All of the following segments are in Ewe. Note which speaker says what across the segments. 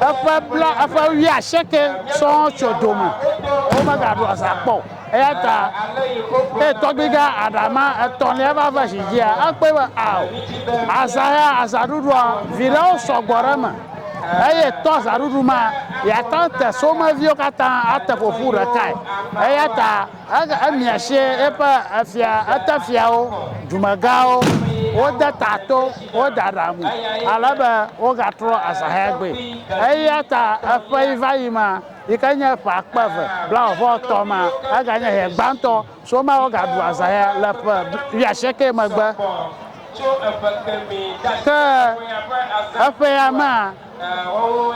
Speaker 1: eƒe bla eƒe wia seke sɔɔ tso dome womegado azã kpɔ o. Eya ta ne tɔgbiga aɖama etɔ̃lia va va zi dzia, ekpɔe be ao, azã ya, azãɖuɖua, viɖewo sɔ gbɔ ɖe eme eye to azãɖuɖu ma, yeate ŋu ate someviwo katã ate ƒo ƒu ɖekae. Eya ta emia si eƒe efia, etefiawo, dumegãwo, wode ta to, wode aɖaŋu ale be wogatrɔ azãhea gbɔe. Eya ta eƒeyivayi ma, yi ke nye ƒe akpe eve blaeve-vɔ-etɔ̃ ma, eganye ɣe gbãtɔ si woma wogaɖu azã ya le ƒe wuiasieke megbe. Ke eƒea mea,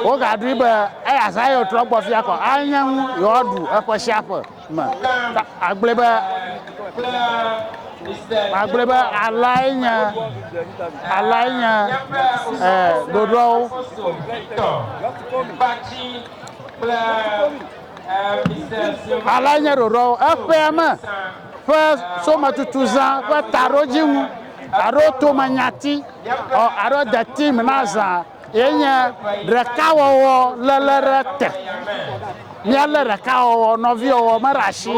Speaker 1: wogaɖui be eya azã ye wotrɔ gbɔ fia kɔ anye nu yewoaɖu eƒe sia ƒe. me. Agblɔe be, agblɔe be alae nye, alae nye e, ɖoɖoawo. Alae nye ɖoɖoawo. Eƒea me ƒe sometutuzã ƒe taɖodzinu alo tomanyati alo deti me na zã. Ye nye ɖekawɔwɔ léle ɖe te. Míalé ɖekawɔwɔ, nɔviwɔwɔ me ɖe asi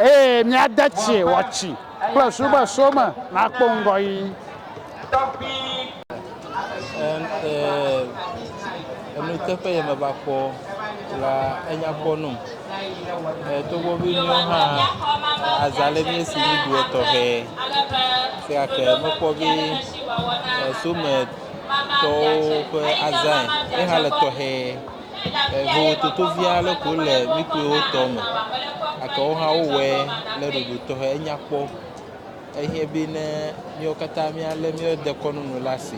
Speaker 1: eye míade tsii wɔtsi kple subeso me nakpɔ ŋgɔyiyi.
Speaker 2: Enuteƒe ye meva kpɔ la enya kpɔ num. Togbɔ be míwo hã azã ɖe mía si nuɖuɖu etɔxɛ. Esia ke mekpɔ be esome. tɔwo ƒe azãe ye hã le tɔxɛ. Eŋu toto vi aɖe ko le mí kpɔewo tɔ me gake wo hã wowɔe ɖe ɖoɖo tɔxɛ enya kpɔ. Ehiã be ne míawo katã míalé mía dekɔnu nu ɖe asi.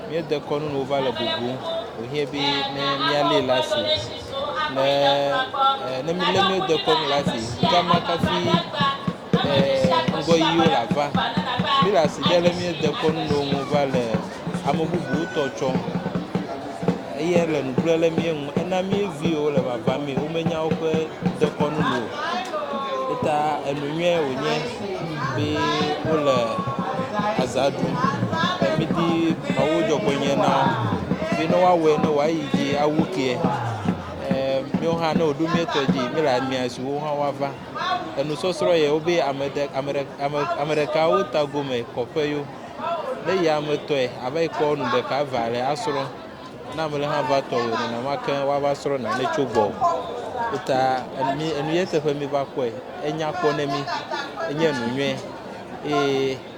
Speaker 2: Mía dekɔnu nu va le bubum wohiã be ne míalée ɖe asi ne e ne mílé mía dekɔnu ɖe asi ŋkema kafi. ŋgɔ yi wole ava. Mi le asi ɖe le mi dekɔ nu ɖe ŋu va le ame bubu tɔ tsɔ. Eye le nu kple le mi ŋu. Ena mi viwo le vava mi. Wo me nya woƒe dekɔnu nu o. Eta enu nyuie wonye be wole aza ɖu. Eye mi di Mawu dzɔ kpɔ nye na wo. Be ne wa wɛ ne wa yi dzi awu ke. Eee mi wo hã ne wo ɖo mi tɔ dzi mi le amia si wo hã wa va. enusɔsrɔ̃ yɛ wobe ame ɖe ame ɖe ame ame ɖeka wo tagome kɔƒe yo ne yi ame tɔe ava yi kpɔ nu ɖeka eve ale asrɔ̃ ne ame ɖe hã va tɔ o nenema ke woava srɔ̃ nane tso gbɔ eta enu enu ye teƒe mi va kpɔe enya kpɔ ne mi enye nu nyuie eye